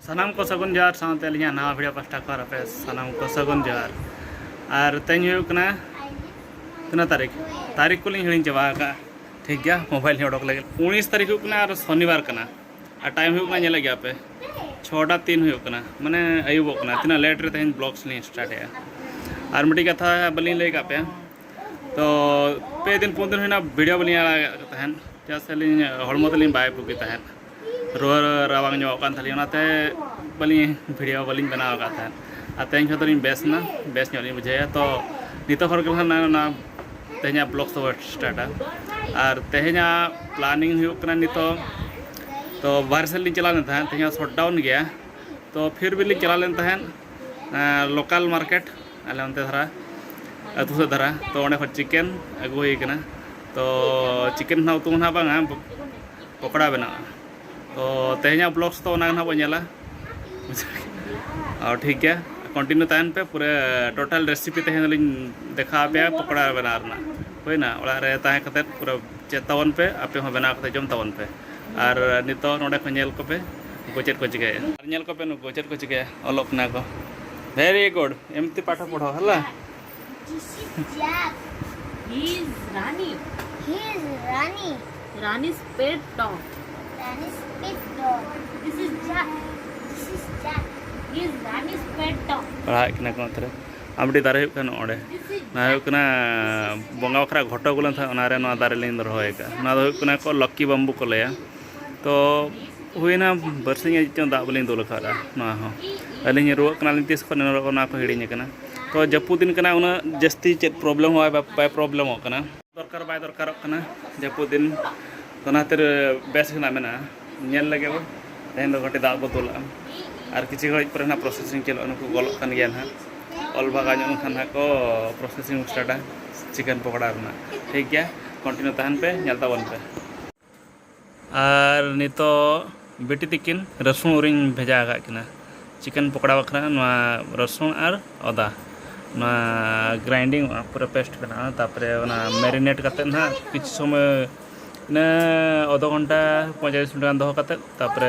ᱥᱟᱱᱟᱢ ᱠᱚ ᱥᱟᱹᱜᱩᱱ ᱡᱚᱦᱟᱨ ᱥᱟᱶᱛᱮ ᱟᱹᱞᱤᱧᱟᱜ ᱱᱟᱣᱟ ᱵᱷᱤᱰᱤᱭᱳ ᱯᱟᱥᱴᱟ ᱠᱷᱚᱱ ᱟᱯᱮ ᱥᱟᱱᱟᱢ ᱠᱚ ᱥᱟᱹᱜᱩᱱ ᱡᱚᱦᱟᱨ ᱟᱨ ᱛᱮᱦᱮᱧ ᱦᱩᱭᱩᱜ ᱠᱟᱱᱟ ᱛᱤᱱᱟᱹᱜ ᱛᱟᱹᱨᱤᱠᱷ ᱛᱟᱹᱨᱤᱠᱷ ᱠᱚᱞᱤᱧ ᱦᱤᱲᱤᱧ ᱪᱟᱵᱟ ᱟᱠᱟᱫᱼᱟ ᱴᱷᱤᱠ ᱜᱮᱭᱟ ᱢᱳᱵᱟᱭᱤᱞ ᱞᱤᱧ ᱚᱰᱚᱠ ᱞᱮᱜᱮ ᱩᱱᱤᱥ ᱛᱟᱹᱨᱤᱠᱷ ᱦᱩᱭᱩᱜ ᱠᱟᱱᱟ ᱟᱨ ᱥᱚᱱᱤᱵᱟᱨ ᱠᱟᱱᱟ ᱟᱨ ᱴᱟᱭᱤᱢ ᱦᱩᱭᱩᱜ ᱠᱟᱱᱟ ᱧᱮᱞᱮᱫ ᱜᱮᱭᱟ ᱯᱮ ᱪᱷᱚᱴᱟ ᱛᱤᱱ ᱦᱩᱭᱩᱜ ᱠᱟᱱᱟ ᱢᱟᱱᱮ ᱟᱹᱭᱩᱵᱚᱜ ᱠᱟᱱᱟ ᱛᱤᱱᱟᱹᱜ ᱞᱮᱴ ᱨᱮ ᱛᱮᱦᱮᱧ ᱵᱞᱚᱜᱥ ᱞᱤᱧ ᱥᱴᱟᱨᱴᱮᱜᱼᱟ ᱟᱨ ᱢᱤᱫᱴᱤᱡ ᱠᱟᱛᱷᱟ ᱵᱟᱹᱞᱤᱧ ᱞᱟᱹᱭ ᱠᱟᱜ ᱯᱮᱭᱟ ᱛᱚ ᱯᱮ ᱫᱤᱱ ᱯᱩᱱ ᱫᱤᱱ ᱦᱩᱭᱱᱟ ᱵᱷᱤᱰᱤᱭᱳ ᱵᱟᱹᱞᱤᱧ ᱟᱲᱟᱜ ᱠᱟᱜ ᱛᱟᱦᱮᱸᱫ ᱪᱮᱫᱟᱜ ᱥᱮ ᱟᱹᱞᱤᱧ ᱦᱚᱲᱢᱚ ᱛᱟᱹᱞᱤᱧ ᱵᱟᱭ ᱵᱩᱜᱤ ᱛᱟᱦᱮᱸᱫ ᱨᱩᱣᱟᱹ ᱨᱟᱵᱟᱝ ᱧᱚᱜ ᱠᱟᱱ ᱛᱟᱹᱞᱤᱧ ᱚᱱᱟᱛᱮ ᱵᱟᱹᱞᱤᱧ ᱵᱷᱤᱰᱤᱭᱳ ᱵᱟᱹᱞᱤᱧ ᱵᱮᱱᱟᱣ ᱠᱟᱜ ᱛᱟᱦᱮᱸᱫ ᱟᱨ ᱛᱮᱦᱮᱧ ᱠᱷᱚᱱ ᱫᱚᱞᱤᱧ ᱵᱮᱥ ᱮᱱᱟ ᱵᱮᱥ ᱧᱚᱜ ᱞᱤᱧ ᱵᱩᱡᱷᱟᱹᱣᱮᱜᱼᱟ ᱛᱚ ᱱᱤᱛᱚᱜ ᱠᱷᱚᱱ ᱜᱮ ᱦᱟᱸᱜ ᱚᱱᱟ ᱛᱮᱦᱮᱧᱟᱜ ᱵᱞᱚᱜ ᱫᱚ ᱥᱴᱟᱨᱴᱟ ᱟᱨ ᱛᱮᱦᱮᱧᱟᱜ ᱯᱞᱟᱱᱤᱝ ᱦᱩᱭᱩᱜ ᱠᱟᱱᱟ ᱱᱤᱛᱚᱜ ᱛᱚ ᱵᱟᱨᱦᱮ ᱥᱮᱫ ᱞᱤᱧ ᱪᱟᱞᱟᱣ ᱞᱮᱱ ᱛᱟᱦᱮᱸᱫ ᱛᱮᱦᱮᱧ ᱦᱚᱸ ᱥᱚᱴ ᱰᱟᱣᱩᱱ ᱜᱮᱭᱟ ᱛᱚ ᱯᱷᱤᱨ ᱵᱤ ᱞᱤᱧ ᱪᱟᱞᱟᱣ ᱞᱮᱱ ᱛᱟᱦᱮᱸᱫ ᱞᱳᱠᱟᱞ ᱢᱟᱨᱠᱮᱴ ᱟᱞᱮ ᱚᱱᱛᱮ ᱫᱷᱟᱨᱟ ᱟᱹᱛᱩ ᱥᱮᱫ ᱫᱷᱟᱨᱟ ᱛᱚ ᱚᱸᱰᱮ ᱠᱷᱚᱱ ᱪᱤᱠᱮᱱ ᱟᱹᱜᱩ ᱦᱩᱭ ᱠᱟᱱᱟ ᱛᱚ ᱪᱤᱠᱮᱱ ᱱᱟᱦᱟᱜ ᱩᱛᱩ ᱱᱟᱦᱟᱜ ᱵᱟᱝᱟ ᱯᱚᱠᱚᱲᱟ ᱵᱮᱱᱟᱜᱼᱟ ᱛᱚ ᱛᱮᱦᱮᱧᱟᱜ ᱵᱞᱚᱜᱥ ᱫᱚ ᱚᱱᱟ ᱱᱟᱦᱟᱜ ᱵᱚᱱ ᱧᱮᱞᱟ ᱟᱨ ᱴᱷᱤᱠ ᱜᱮᱭᱟ ᱠᱚᱱᱴᱤᱱᱤᱭᱩ ᱛᱟᱦᱮᱱ ᱯᱮ ᱯᱩᱨᱟᱹ ᱴᱳᱴᱟᱞ ᱨᱮᱥᱤᱯᱤ ᱛᱮᱦᱮᱧ ᱫᱚᱞᱤᱧ ᱫᱮᱠᱷᱟ ᱟᱯᱮᱭᱟ ᱯᱚᱠᱚᱲᱟ ᱵᱮᱱᱟᱣ ᱨᱮᱱᱟᱜ ᱦᱩᱭᱱᱟ ᱚᱲᱟᱜ ᱨᱮ ᱛᱟᱦᱮᱸ ᱠᱟᱛᱮᱫ ᱯᱩᱨᱟᱹ ᱪᱮᱫ ᱛᱟᱵᱚᱱ ᱯᱮ ᱟᱯᱮ ᱦᱚᱸ ᱵᱮᱱᱟᱣ ᱠᱟᱛᱮᱫ ᱡᱚᱢ ᱛᱟᱵᱚᱱ ᱯᱮ ᱟᱨ ᱱᱤᱛᱚᱜ ᱱᱚᱰᱮ ᱠᱷᱚᱱ ᱧᱮᱞ ᱠᱚᱯᱮ ᱱᱩᱠᱩ ᱪᱮᱫ ᱠᱚ ᱪᱤᱠᱟᱹᱭᱟ ᱟᱨ ᱧᱮᱞ ᱠᱚᱯᱮ ᱱᱩᱠᱩ ᱪᱮᱫ ᱠᱚ ᱪᱤᱠᱟᱹᱭᱟ ᱚᱞᱚᱜ ᱠᱟᱱᱟ ᱠᱚ ᱵᱷᱮᱨᱤ ᱜᱩᱰ ᱮᱢᱛᱤ ᱯᱟᱴᱷᱚ ᱯᱚᱲᱦᱚ ᱦᱮᱞᱟ ᱯᱟᱲᱦᱟᱜ ᱠᱟᱱᱟ ᱠᱚ ᱚᱱᱛᱮ ᱨᱮ ᱟᱨ ᱢᱤᱫᱴᱤᱡ ᱫᱟᱨᱮ ᱦᱩᱭᱩᱜ ᱠᱟᱱᱟ ᱚᱸᱰᱮ ᱱᱚᱣᱟ ᱦᱩᱭᱩᱜ ᱠᱟᱱᱟ ᱵᱚᱸᱜᱟ ᱵᱟᱠᱷᱨᱟ ᱜᱷᱚᱴᱚ ᱟᱹᱜᱩ ᱞᱮᱱ ᱛᱟᱦᱮᱸᱫ ᱚᱱᱟᱨᱮ ᱱᱚᱣᱟ ᱫᱟᱨᱮ ᱞᱤᱧ ᱨᱚᱦᱚᱭ ᱟᱠᱟᱫᱼᱟ ᱱᱚᱣᱟ ᱫᱚ ᱦᱩᱭᱩᱜ ᱠᱟᱱᱟ ᱠᱚ ᱞᱚᱠᱠᱤ ᱵᱟᱢᱵᱩ ᱠᱚ ᱞᱟᱹᱭᱟ ᱛᱚ ᱦᱩᱭᱱᱟ ᱵᱟᱨᱥᱤᱧ ᱟᱹᱡ ᱪᱚᱝ ᱫᱟᱜ ᱵᱟᱹᱞᱤᱧ ᱫᱩᱞ ᱟᱠᱟᱫᱟ ᱱᱚᱣᱟ ᱦᱚᱸ ᱟᱹᱞᱤᱧ ᱨᱩᱣᱟᱹᱜ ᱠᱟᱱᱟᱞᱤᱧ ᱛᱤᱥ ᱠᱷᱚᱱ ᱨᱩᱣᱟᱹᱜ ᱠᱟᱱᱟ ᱚᱱᱟ ᱠᱚ ᱦᱤᱲᱤᱧ ᱟᱠᱟᱱᱟ ᱛᱚ ᱡᱟᱹᱯᱩᱫ ᱫᱤᱱ ᱠᱟᱱᱟ ᱩᱱᱟᱹᱜ ᱡᱟᱹᱥᱛᱤ ᱪᱮᱫ ᱯᱨᱚᱵᱞᱮᱢ ᱦᱚᱸ ᱵᱟᱭ ᱯᱨᱚᱵᱞᱮᱢᱚᱜ ᱠᱟᱱᱟ ᱫᱚᱨᱠᱟᱨ ᱵᱟᱭ ᱫᱚᱨᱠᱟᱨᱚᱜ ᱠᱟᱱᱟ ᱡᱟᱹᱯᱩᱫ ᱫᱤᱱ ᱚᱱᱟ ᱠᱷᱟᱹᱛᱤᱨ ᱵᱮᱥ ᱨᱮᱱᱟᱜ ᱢᱮᱱᱟᱜᱼᱟ ᱧᱮᱞ ᱞᱟᱹᱜᱤᱫ ᱵᱚ ᱛᱮᱦᱮᱧ ᱫᱚ ᱠᱟᱹᱴᱤᱡ ᱫᱟᱜ ᱵᱚ ᱫᱩᱞᱟᱜᱼᱟ ᱟᱨ ᱠᱤᱪᱷᱩ ᱜᱷᱟᱹᱲᱤᱡ ᱯᱚᱨᱮ ᱱᱟᱜ ᱯᱨᱚᱥᱮᱥᱤᱝ ᱪᱟᱹᱞᱩᱜᱼᱟ ᱱᱩᱠᱩ ᱜᱚᱞᱚᱜ ᱠᱟᱱ ᱜᱮᱭᱟ ᱱᱟᱜ ᱚᱞ ᱵᱷᱟᱜᱟᱣ ᱧᱚᱜ ᱞᱮᱱᱠᱷᱟᱱ ᱱᱟᱜ ᱠᱚ ᱯᱨᱚᱥᱮᱥᱤᱝ ᱥᱴᱟᱨᱴᱟ ᱪᱤᱠᱮᱱ ᱯᱚᱠᱚᱲᱟ ᱨᱮᱱᱟᱜ ᱴᱷᱤᱠ ᱜᱮᱭᱟ ᱠᱚᱱᱴᱤᱱᱤᱭᱩ ᱛᱟᱦᱮᱱ ᱯᱮ ᱧᱮᱞ ᱛᱟᱵᱚᱱ ᱯᱮ ᱟᱨ ᱱᱤᱛᱚᱜ ᱵᱤᱴᱤ ᱛᱤᱠᱤᱱ ᱨᱟᱹᱥᱩᱱ ᱩᱨᱤᱧ ᱵᱷᱮᱡᱟ ᱟᱠᱟᱫ ᱠᱤᱱᱟ ᱪᱤᱠᱮᱱ ᱯᱚᱠᱚᱲᱟ ᱵᱟᱠᱷᱨᱟ ᱱᱚᱣᱟ ᱨᱟᱹᱥᱩᱱ ᱟᱨ ᱟᱫᱟ ᱱᱚᱣᱟ ᱜᱨᱟᱭᱤᱱᱰᱤᱝ ᱚᱜᱼᱟ ᱯᱩᱨᱟᱹ ᱯᱮᱥᱴ ᱵᱮᱱᱟᱜᱼᱟ ᱛᱟᱨᱯᱚᱨᱮ ᱚᱱᱟ ᱢᱮᱨᱤᱱᱮᱴ ᱠᱟᱛᱮᱫ ᱱᱟᱦᱟᱜ ᱠᱤᱪᱷᱩ ᱥᱚᱢᱚᱭ ᱤᱱᱟᱹ ᱟᱫᱷᱟ ᱜᱷᱚᱱᱴᱟ ᱯᱚᱸᱭᱛᱟᱞᱞᱤᱥ ᱢᱤᱱᱤᱴ ᱜᱟᱱ ᱫᱚᱦᱚ ᱠᱟᱛᱮᱫ ᱛᱟᱨᱯᱚᱨᱮ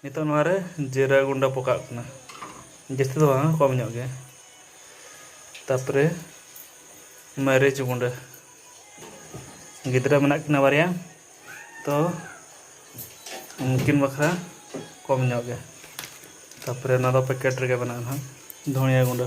ᱱᱤᱛᱚᱜ ᱱᱚᱣᱟ ᱨᱮ ᱡᱤᱨᱟᱹ ᱜᱩᱸᱰᱟᱹ ᱯᱚᱠᱟᱜ ᱠᱟᱱᱟ ᱡᱟᱹᱥᱛᱤ ᱫᱚ ᱵᱟᱝ ᱠᱚᱢ ᱧᱚᱜ ᱜᱮ ᱛᱟᱨᱯᱚᱨᱮ ᱢᱟᱹᱨᱤᱪ ᱜᱩᱸᱰᱟᱹ ᱜᱤᱫᱽᱨᱟᱹ ᱢᱮᱱᱟᱜ ᱠᱤᱱᱟ ᱵᱟᱨᱭᱟ ᱛᱚ ᱩᱱᱠᱤᱱ ᱵᱟᱠᱷᱨᱟ ᱠᱚᱢ ᱧᱚᱜ ᱜᱮ ᱛᱟᱨᱯᱚᱨᱮ ᱱᱚᱣᱟ ᱫᱚ ᱯᱮᱠᱮᱴ ᱨᱮᱜᱮ ᱢᱮᱱᱟᱜᱼᱟ ᱱᱟᱦᱟᱜ ᱫᱷᱚᱱᱤᱭᱟᱹ ᱜᱩᱸᱰᱟᱹ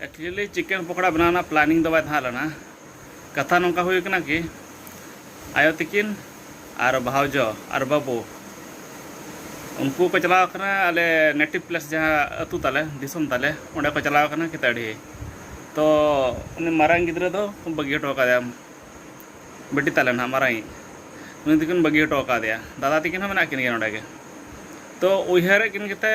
ᱮᱠᱪᱩᱭᱮᱞᱤ ᱪᱤᱠᱮᱱ ᱯᱚᱠᱚᱲᱟ ᱵᱮᱱᱟᱣ ᱨᱮᱱᱟᱜ ᱯᱞᱟᱱᱤᱝ ᱫᱚ ᱵᱟᱭ ᱛᱟᱦᱮᱸ ᱞᱮᱱᱟ ᱠᱟᱛᱷᱟ ᱱᱚᱝᱠᱟ ᱦᱩᱭ ᱠᱟᱱᱟ ᱠᱤ ᱟᱭᱳ ᱛᱤᱠᱤᱱ ᱟᱨ ᱵᱷᱟᱣᱡᱚ ᱟᱨ ᱵᱟᱹᱵᱩ ᱩᱱᱠᱩ ᱠᱚ ᱪᱟᱞᱟᱣ ᱠᱟᱱᱟ ᱟᱞᱮ ᱱᱮᱴᱤᱵᱷ ᱯᱞᱮᱥ ᱡᱟᱦᱟᱸ ᱟᱹᱛᱩ ᱛᱟᱞᱮ ᱫᱤᱥᱚᱢ ᱛᱟᱞᱮ ᱚᱸᱰᱮ ᱠᱚ ᱪᱟᱞᱟᱣ ᱠᱟᱱᱟ ᱠᱤᱛᱟᱹᱲᱤ ᱛᱚ ᱩᱱᱤ ᱢᱟᱨᱟᱝ ᱜᱤᱫᱽᱨᱟᱹ ᱫᱚ ᱵᱟᱹᱜᱤ ᱦᱚᱴᱚ ᱠᱟᱫᱮᱭᱟ ᱵᱤᱴᱤ ᱛᱟᱞᱮ ᱱᱟᱦᱟᱜ ᱢᱟᱨᱟᱝᱤᱡ ᱩᱱᱤ ᱛᱤᱠᱤᱱ ᱵᱟᱹᱜᱤ ᱦᱚᱴᱚ ᱠᱟᱫᱮᱭᱟ ᱫᱟᱫᱟ ᱛᱤᱠᱤᱱ ᱦᱚᱸ ᱢᱮᱱᱟᱜ ᱠᱤᱱ ᱜᱮᱭᱟ ᱱᱚᱰᱮ ᱜᱮ ᱛᱚ ᱩᱭᱦᱟᱹᱨᱮᱫ ᱠᱤᱱ ᱜᱮᱛᱮ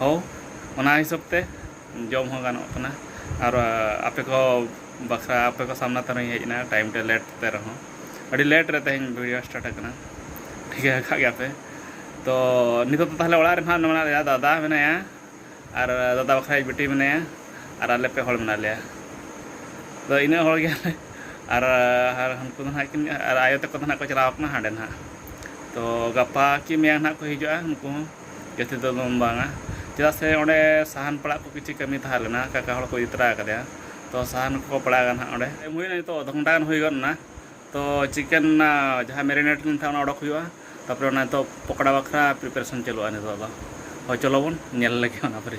ᱦᱚᱸ ᱚᱱᱟ ᱦᱤᱥᱟᱹᱵᱽ ᱛᱮ ᱡᱚᱢ ᱦᱚᱸ ᱜᱟᱱᱚᱜ ᱠᱟᱱᱟ ᱟᱨ ᱟᱯᱮ ᱠᱚ ᱵᱟᱠᱷᱨᱟ ᱟᱯᱮ ᱠᱚ ᱥᱟᱢᱱᱟ ᱛᱮ ᱱᱚᱜᱼᱚᱭ ᱤᱧ ᱦᱮᱡ ᱮᱱᱟ ᱴᱟᱭᱤᱢ ᱛᱮ ᱞᱮᱴ ᱛᱮ ᱨᱮᱦᱚᱸ ᱟᱹᱰᱤ ᱞᱮᱴ ᱨᱮ ᱛᱮᱦᱮᱧ ᱵᱷᱤᱰᱭᱳ ᱥᱴᱟᱨᱴ ᱟᱠᱟᱱᱟ ᱴᱷᱤᱠᱟᱹ ᱟᱠᱟᱫ ᱜᱮᱭᱟ ᱯᱮ ᱛᱚ ᱱᱤᱛᱚᱜ ᱫᱚ ᱛᱟᱦᱚᱞᱮ ᱚᱲᱟᱜ ᱨᱮ ᱱᱟᱦᱟᱜ ᱢᱮᱱᱟᱜ ᱞᱮᱭᱟ ᱫᱟᱫᱟ ᱢᱮᱱᱟᱭᱟ ᱟᱨ ᱫᱟᱫᱟ ᱵᱟᱠᱷᱨᱟ ᱤᱧ ᱵᱤᱴᱤ ᱢᱮᱱᱟᱭᱟ ᱟᱨ ᱟᱞᱮ ᱯᱮ ᱦᱚᱲ ᱢᱮᱱᱟᱜ ᱞᱮᱭᱟ ᱛᱚ ᱤᱱᱟᱹᱜ ᱦᱚᱲ ᱜᱮ ᱟᱨ ᱟᱨ ᱩᱱᱠᱩ ᱫᱚ ᱱᱟᱦᱟᱜ ᱠᱤᱱ ᱟᱨ ᱟᱭᱳ ᱛᱟᱠᱚ ᱫᱚ ᱱᱟᱦᱟᱜ ᱠᱚ ᱪᱟᱞᱟᱣ ᱠᱟᱱᱟ ᱦᱟᱸᱰᱮ ᱱᱟᱦᱟᱜ ᱛᱚ ᱜᱟᱯᱟ ᱠᱤ ᱢᱮᱭᱟᱝ ᱱᱟᱦᱟᱜ ᱠᱚ ᱦᱤᱡᱩᱜᱼᱟ ᱩᱱᱠᱩ ᱦᱚᱸ ᱡᱟᱹᱥᱛᱤ ᱫᱚ ᱵᱟᱝᱟ ᱪᱮᱫᱟᱜ ᱥᱮ ᱚᱸᱰᱮ ᱥᱟᱦᱟᱱ ᱯᱟᱲᱟᱜ ᱠᱚ ᱠᱤᱪᱷᱩ ᱠᱟᱹᱢᱤ ᱛᱟᱦᱮᱸ ᱞᱮᱱᱟ ᱠᱟᱠᱟ ᱦᱚᱲ ᱠᱚ ᱤᱫᱤ ᱛᱚᱨᱟ ᱟᱠᱟᱫᱮᱭᱟ ᱛᱚ ᱥᱟᱦᱟᱱ ᱠᱚ ᱯᱟᱲᱟᱜᱟ ᱱᱟᱦᱟᱜ ᱚᱸᱰᱮ ᱮᱢ ᱦᱩᱭᱱᱟ ᱱᱤᱛᱚᱜ ᱟᱫᱷᱟ ᱜᱷᱚᱱᱴᱟ ᱜᱟᱱ ᱦᱩᱭ ᱜᱚᱫ ᱮᱱᱟ ᱛᱚ ᱪᱤᱠᱮᱱ ᱡᱟᱦᱟᱸ ᱢᱮᱨᱤᱱᱮᱴ ᱞᱮᱱ ᱛᱟᱦᱮᱸᱫ ᱚᱱᱟ ᱚᱰᱚᱠ ᱦᱩᱭᱩᱜᱼᱟ ᱛᱟᱨᱯᱚᱨᱮ ᱚᱱᱟ ᱱᱤᱛᱚᱜ ᱯᱚᱠᱚᱲᱟ ᱵᱟᱠᱷᱨᱟ ᱯᱨᱤᱯᱟᱨᱮᱥᱚᱱ ᱪᱟᱹᱞᱩᱜᱼᱟ ᱱᱤᱛᱚᱜ ᱫᱚ ᱦᱳᱭ ᱪᱚᱞᱚ ᱵᱚᱱ ᱧᱮᱞ ᱞᱮᱜᱮ ᱚᱱᱟ ᱯᱚᱨᱮ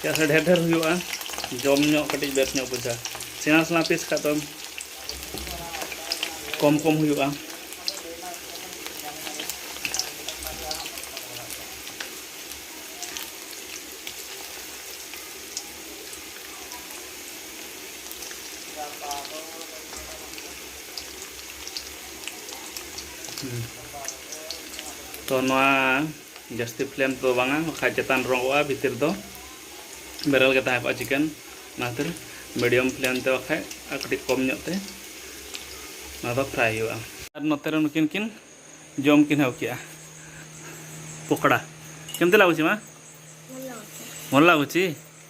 ᱪᱮᱫᱟᱜ ᱥᱮ ᱰᱷᱮᱨ ᱰᱷᱮᱨ ᱦᱩᱭᱩᱜᱼᱟ ᱡᱚᱢ ᱧᱚᱜ ᱠᱟᱹᱴᱤᱡ ᱵᱮᱥ ᱧᱚᱜ ᱵᱩᱡᱷᱟᱹᱜᱼᱟ ᱥᱮᱬᱟ ᱥᱮᱬᱟ ᱯᱤᱥ ᱠᱷᱟᱡ ᱫᱚ ᱠᱚᱢ ᱠᱚᱢ ᱦᱩᱭᱩᱜᱼᱟ ᱛᱚ ᱱᱚᱣᱟ ᱡᱟᱹᱥᱛᱤ ᱯᱷᱞᱮᱢ ᱛᱮᱫᱚ ᱵᱟᱝᱟ ᱵᱟᱠᱷᱟᱡ ᱪᱮᱛᱟᱱ ᱨᱚᱸᱜᱚᱜᱼᱟ ᱵᱷᱤᱛᱤᱨ ᱫᱚ ᱵᱮᱨᱮᱞ ᱜᱮ ᱛᱟᱦᱮᱸ ᱠᱚᱜᱼᱟ ᱪᱤᱠᱮᱱ ᱚᱱᱟ ᱠᱷᱟᱹᱛᱤᱨ ᱢᱤᱰᱤᱭᱟᱢ ᱯᱷᱞᱮᱢ ᱛᱮ ᱵᱟᱠᱷᱟᱡ ᱟᱨ ᱠᱟᱹᱴᱤᱡ ᱠᱚᱢ ᱧᱚᱜ ᱛᱮ ᱚᱱᱟ ᱫᱚ ᱯᱷᱨᱟᱭ ᱦᱩᱭᱩᱜᱼᱟ ᱟᱨ ᱱᱚᱛᱮ ᱨᱮ ᱱᱩᱠᱤᱱ ᱠᱤᱱ ᱡᱚᱢ ᱠᱤᱱ ᱮᱦᱚᱵ ᱠᱮᱜᱼᱟ ᱯᱚᱠᱚᱲᱟ ᱠᱮᱢᱛᱮ ᱞᱟᱜᱩᱪᱤ ᱢᱟ ଭଲ ଲାଗୁଛି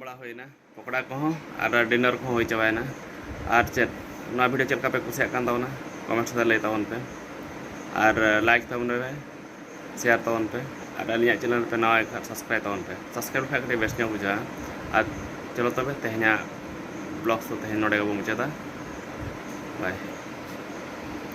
ᱵᱟᱲᱟ ᱦᱩᱭᱱᱟ ᱯᱚᱠᱚᱲᱟ ᱠᱚᱦᱚᱸ ᱟᱨ ᱰᱤᱱᱟᱨ ᱠᱚᱦᱚᱸ ᱦᱩᱭ ᱪᱟᱵᱟᱭᱮᱱᱟ ᱟᱨ ᱪᱮᱫ ᱱᱚᱣᱟ ᱵᱷᱤᱰᱤᱭᱳ ᱪᱮᱫ ᱞᱮᱠᱟ ᱯᱮ ᱠᱩᱥᱤᱭᱟᱜ ᱠᱟᱱ ᱛᱟᱵᱚᱱᱟ ᱠᱚᱢᱮᱱᱴᱥ ᱨᱮ ᱞᱟᱹᱭ ᱛᱟᱵᱚᱱ ᱯᱮ ᱟᱨ ᱞᱟᱭᱤᱠ ᱛᱟᱵᱚᱱ ᱯᱮ ᱥᱮᱭᱟᱨ ᱛᱟᱵᱚᱱ ᱯᱮ ᱟᱨ ᱟᱹᱞᱤᱧᱟᱜ ᱪᱮᱱᱮᱞ ᱯᱮ ᱱᱟᱣᱟ ᱠᱷᱟᱱ ᱥᱟᱵᱥᱠᱨᱟᱭᱤᱵ ᱛᱟᱵᱚᱱ ᱯᱮ ᱥᱟᱵᱥᱠᱨᱟᱭᱤᱵ ᱞᱮᱠᱷᱟᱱ ᱠᱟᱹᱴᱤᱡ ᱵᱮᱥ ᱧᱚᱜ ᱵᱩᱡᱷᱟᱹᱜᱼᱟ ᱟᱨ ᱪᱚᱞᱚ ᱛᱚᱵᱮ ᱛᱮᱦᱮᱧᱟᱜ ᱵᱞᱚᱜ ᱫᱚ ᱛᱮᱦᱮᱧ ᱱᱚᱰᱮ ᱜᱮᱵᱚᱱ ᱢᱩᱪᱟᱹᱫᱟ ᱵᱟᱭ